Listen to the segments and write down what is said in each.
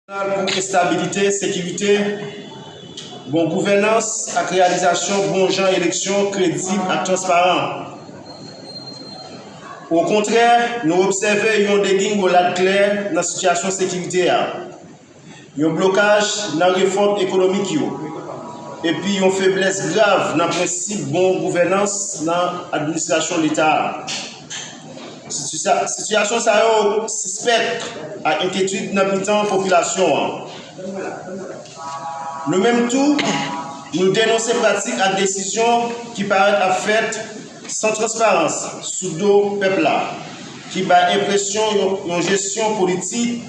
Jeneral pou estabilite, sekirite, bon gouvènans ak reyalizasyon bon jan eleksyon kredib ak transparan. Okontrè, nou obsève yon degingolad klè nan sitiyasyon sekirite a, yon blokaj nan refòm ekonomik yo, epi yon feblès grav nan prensip bon gouvènans nan administrasyon Leta a. Sitiyasyon sa yo sispèk ak enkyetid nan mitan popilasyon an. Nou menm tou, nou denonse pratik ak desizyon ki parèt ap fèt san transparans sou do pèp la, ki bay enpresyon yon jesyon politik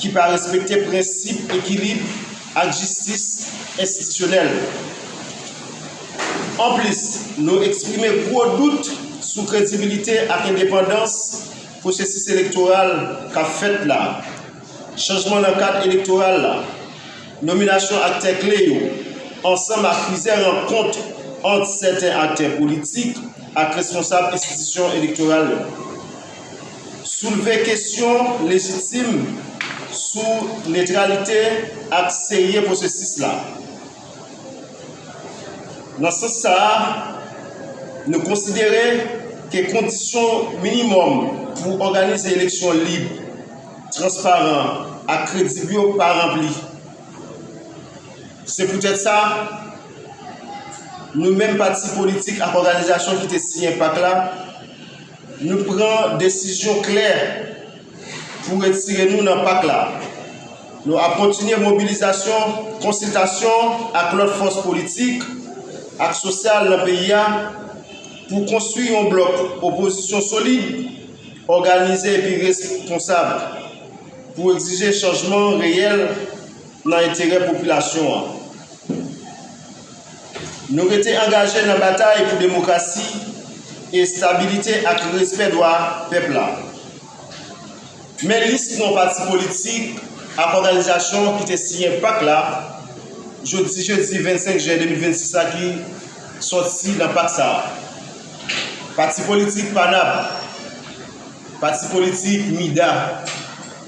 ki pa respekte prensip ekilib ak jistis enstitisyonèl. Anplis, nou eksprime gwo dout sou kredibilite ak endepandans pwosesis elektoral k ap fèt la, chanjman nan kad elektoral la, nominasyon aktè kle yo, ansanm ak plizyè rankont ant sèten aktè politik ak responsab enstitisyon elektoral yo, soulve kesyon lejitim sou netralite ak serye pwosesis la. Nan sans sa a, nou konsidere ke kondisyon minimòm pou òganize eleksyon lib, transparan ak kredib yo pa ranpli. Se poutèt sa, nou menm pati politik ak òganizasyon ki te siyen pak la, Nou pran desizyon klè pou retire nou nan pak la. Nou ap kontinye mobilizasyon, konsiltasyon ak lòt fòs politik ak sosyal nan peyi a pou konstwi yon blòk opozisyon solid, òganize epi responsab pou egzije chanjman reyèl nan enterè popilasyon an. Nou rete angaje nan batay pou demokrasi, estabilite ak respè dwa pèp la. Men lis non pati politik ak òganizasyon ki te siyen pak la jodi jedi 25 jen 2026 la ki sòti nan pak sa a, Pati politik PANAP Pati politik MIDA.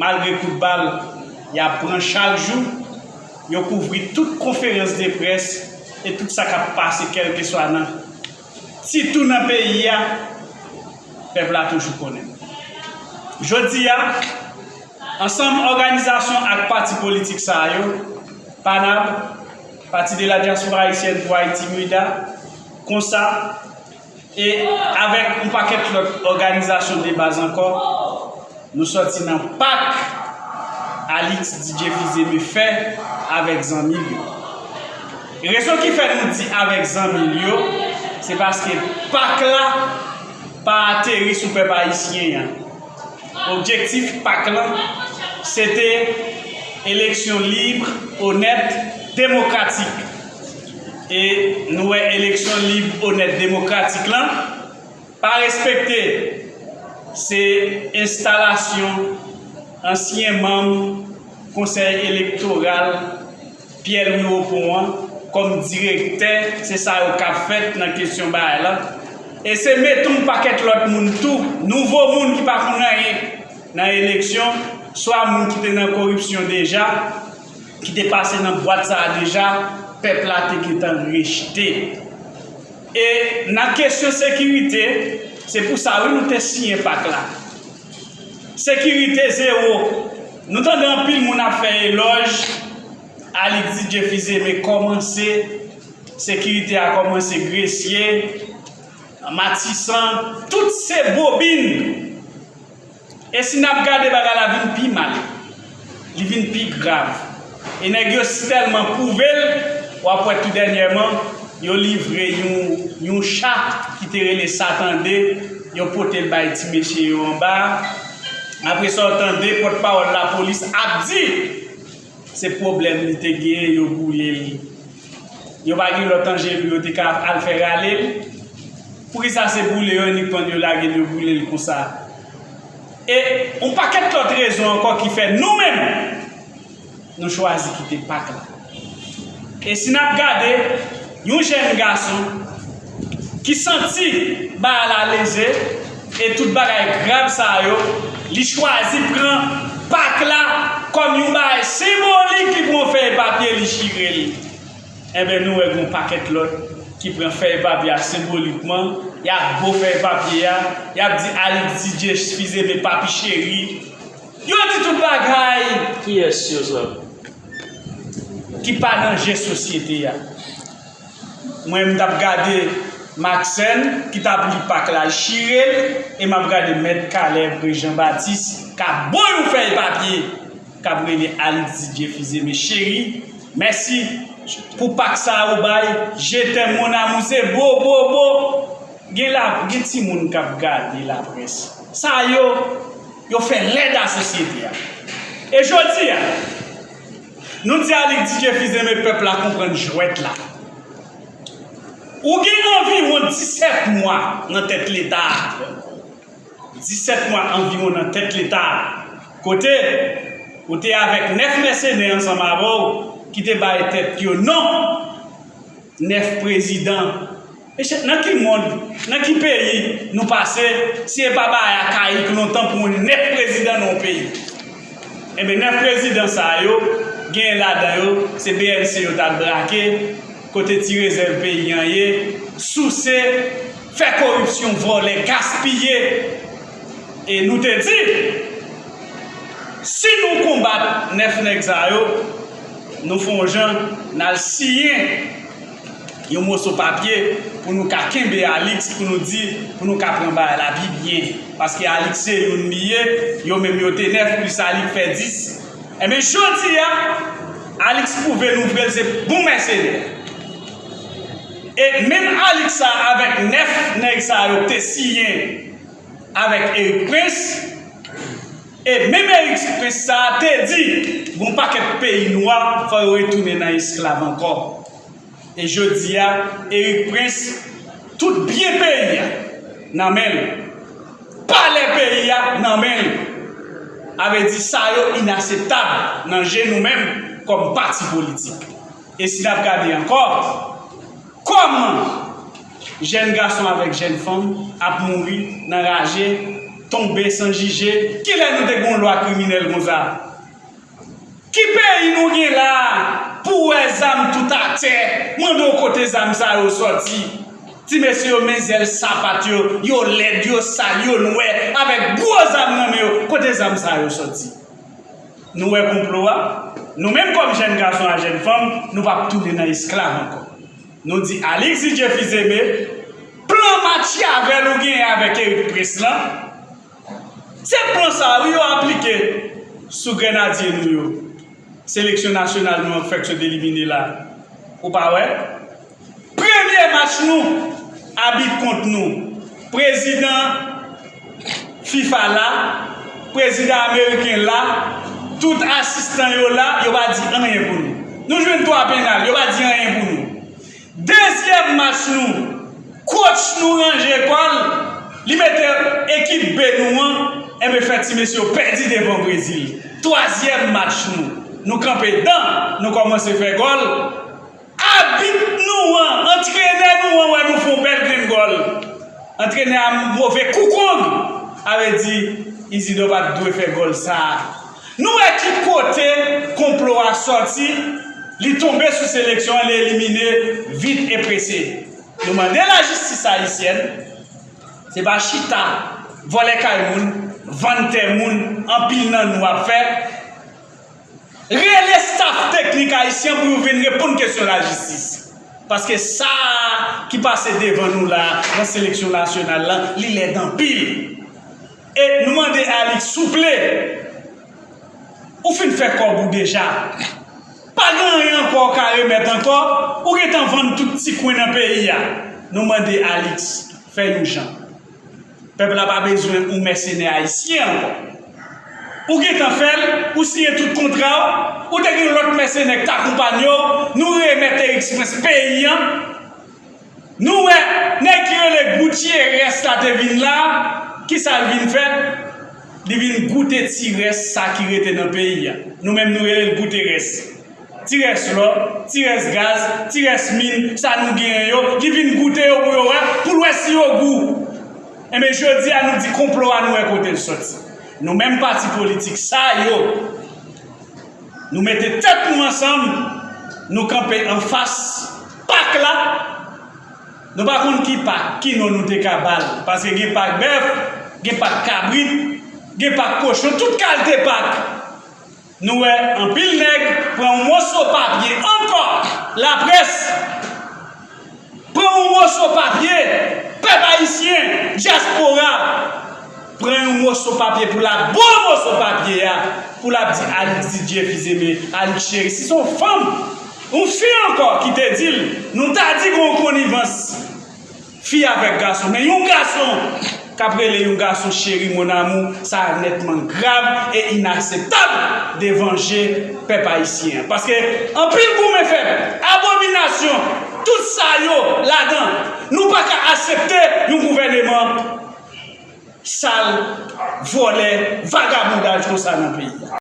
Malgre kout bal y ap pran chak jou, yo kouvri tout konferans de près e tout sa k ap pase kèlkeswa nan, sitou nan peyi a, pèp la toujou konnen. Jodi a, ansanm òganizasyon ak pati politik sa a yo, PANAB, Parti de la Diaspora Haïtienne pour Haïti, MUDHA, konsa, E avèk yon pakèt lòt òganizasyon de baz ankò, nou sòti nan pak Alix DJ Fils-Aimé fè avèk zanmi l yo. Rezon ki fè nou di avèk zanmi l yo, se paske pak la pa ateri sou pèp ayisyen an. Objektif pak lan, se te eleksyon lib, onèt, demokratik. E nou wè eleksyon lib, onèt, demokratik lan pa respekte. Se enstalasyon ansyen manm konsèy elektoral Pyè Lwi Opon an kòm direktè, se sa yo k ap fèt nan kesyon baay lan. E se mete yon pakèt lòt moun tou, nouvo moun ki pa konnen anyen nan eleksyon, swa moun ki te nan koripsyon deja, ki te pase nan bwat sa a deja, pèp la te gentan rejte. E nan kesyon sekirite, se pou sa wi nou te siyen pak la. Sekirite zewo, nou tande anpil moun ap fè elòj Alix Didier Fils-Aimé kòmanse, sekirite a kòmanse Gresye, Matisan, tout se bobin. E si nap gade bagay la vin pi mal, li vin pi grav. E nèg yo si tèlman pwouve l, wap wè tou dènyèman yo livre yon yon cha ki te rele sa tande, yo pote l bay ti mesye yo anba a, apresa w tande pòtpawòl lapolis ap di. Se pwoblèm li te gen yo boule l. Yo pa gen lòt anje pou yo te ka al fè rale l? Poukisa se boule yo inikman yo lage l yo boule l konsa? E yon pakèt lòt rezon ankò ki fè nou menm nou chwazi kite pak la. E si n ap gade yon jèn gason. Ki santi ba a la lejè e tout bagay grav sa yo, li chwazi pran Pak la kòm yon bagay senbolik li pran yon fèy papye li chire l. Enben nou wè gen yon pakèt lòt ki pran fèy papye a senbolikman, y ap bo fèy papye a, y ap di Alix Didier Spize me Papi Cheri. Yo di tout bagay. Kiyès yo zòt? Ki pa nan je sosyete a. Mwen m tap gade Maxène ki tap li pak la chirel e map gade mèt Caleb re Jean Baptiste kap bo yon fèy papye kap rele Alix Didier Fize me cheri mèsi pou pak sa ou bay je t'aime mon amour se bo bo bo gen la gen ti moun kap gade la près sa yo yo fè lèd a sosyete a e jodi a. Nou di a li di jefis renmen pèp la konprann jwèt la. Ou gen anviwon 17 mwa nan tèt leta a, 17 mwa anviwon nan tèt leta a, kote ou te avèk 9 mèsenè ansanm avè w ki te bay tèt yo non! 9 prezidan mesye nan ki mond nan ki peyi nou pase si e pa baay akayik lontan pou yon 9 prezidan nan yon peyi enben 9 prezidan sa yo genyen ladan yo se bnc yo tal brake kote ti rezèv peyi an ye souse fè koripsyon vòlè gaspiye E nou te di, Si nou konbat nèf nèg sa yo, nou fè yon jan, n al siyen yon moso papye pou nou ka kenbe Alix, pou nou di, pou nou ka pran bagay la pi byen. Paske Alix se youn li ye, yo menm yo te nèf, plis Alix fè dis. Enben, jodi a, Alix pwouve nou vre l se bon mèsenè. E menm Alix sa a avèk nèf nèg sa yo k te siyen. avèk Erik Prince e menm Erik Prince sa a te di gon pakèt peyi nwa fò yo retounen nan esklav ankò e jodi a Erik Prince tout byen peyi a nan men l palè peyi a nan men l a vle di sa yo inaseptab nan je nou menm kòm pati politik e si n ap gade ankò. Kòman jèn gason avèk jèn fanm ap mouri nan raje, tonbe san jije, kilè nou te gen yon lwa kriminèl konsa? Ki peyi nou gen la a pou w wè zam tout atè, mande w kote zam sa yo sòti? Ti mesye yo men zèl sapat yo, yo lèd, yo sal, yo nwè, avèk gwo zam nan men yo, kote zam sa yo sòti? Nou wè konplo a? Nou menm kòm jèn gason ak jèn fanm, nou pap tounen nan esklav ankò. Nou di Alix DJ Fils-Aimé, plan matyavèl ou genyen avèk Eric Prince lan, se plan sa a wi yo aplike sou grenadye nou yo, seleksyon nasyonal nou an k fèk sot elimine la a. Ou pa wè? Premye match nou, abit kont nou. Prezidan fifa la, prezidan ameriken la, tout asistan yo la, yo pa di anyen pou nou. Nou jwenn 3 penal, yo pa di anyen pou nou. Dezyèm match nou, kotch nou ranje kò l, li mete ekip B nou an, enben fè ti mesye yo pèdi devan Brezil. Twazyèm match nou, nou kanpe dan, nou kòmanse fè gòl. Abit nou an, antrenè nou an wè nou fon bèl grenn gòl. Antrenè a move kou kong. A vle di, Izidò pa t dwe fè gòl sa a. Nou wè ki kote konplo a sòti, li tonbe sou seleksyon an, li elimine vit e prese. Nou mande lajistis ayisyèn, se pa chita, vòlè kay moun, vann tè moun anpil nan nou ap fè. Rele staff teknik ayisyen an pou yo vin reponn kesyon lajistis. Paske sa ki pase devan nou la nan seleksyon nasyonal la, li lèd anpil. E nou mande Alix souple, ou fin fè kòb ou deja. Pa gen anyen ankò ou ka remèt ankò, ou gentan vann tout ti kwen nan peyi a. Nou mande Alix, fè yon jan. Pèp la pa bezwen ou mèsenè ayisyen ankò. Ou gentan fè l, ou siyen tout kontra w, ou te gen yon lòt mèsenè k t akonpanye w, nou remèt Eriks Prens peyi an, nou wè nèg ki rele Goutyerès la te vin la, ki sa l vin fè? Li vin goute ti rès sa ki rete nan peyi a. Nou menm nou rele l Gouterès. Ti rès lò, ti rès gaz, ti rès min sa nou genyen yo, li vin goute yo pou yo wè, pou l wè si yo gou. Enben jodi a nou di konplo a nou wè kote l soti. Nou menm pati politik sa yo, nou mete tèt nou ansanm, nou kanpe anfas pak la, nou pa konn ki pak, ki non nou te ka ba l, paske gen pak bèf, gen pak kabrit, gen pak kochon, tout kalte pak. Nou wè anpil nèg pran yon moso papye ankò laprès pran yon moso papye pèp ayisyen dyaspora pran yon moso papye pou lap bo moso papye a pou lap di Alix Didier Fils-Aimé Alix Chéry si se yon fanm yon fi ankò ki te dil nou ta di gon konnivans. Fi avèk gason men yon gason kap rele yon gason cheri mon amour sa nètman grav e inaseptab devan je pèp ayisyen an paske anpil goumen fèt abominasyon tout sa yo ladan nou paka asepte yon gouvèneman sal vòlè vagabondaj konsa nan peyi a.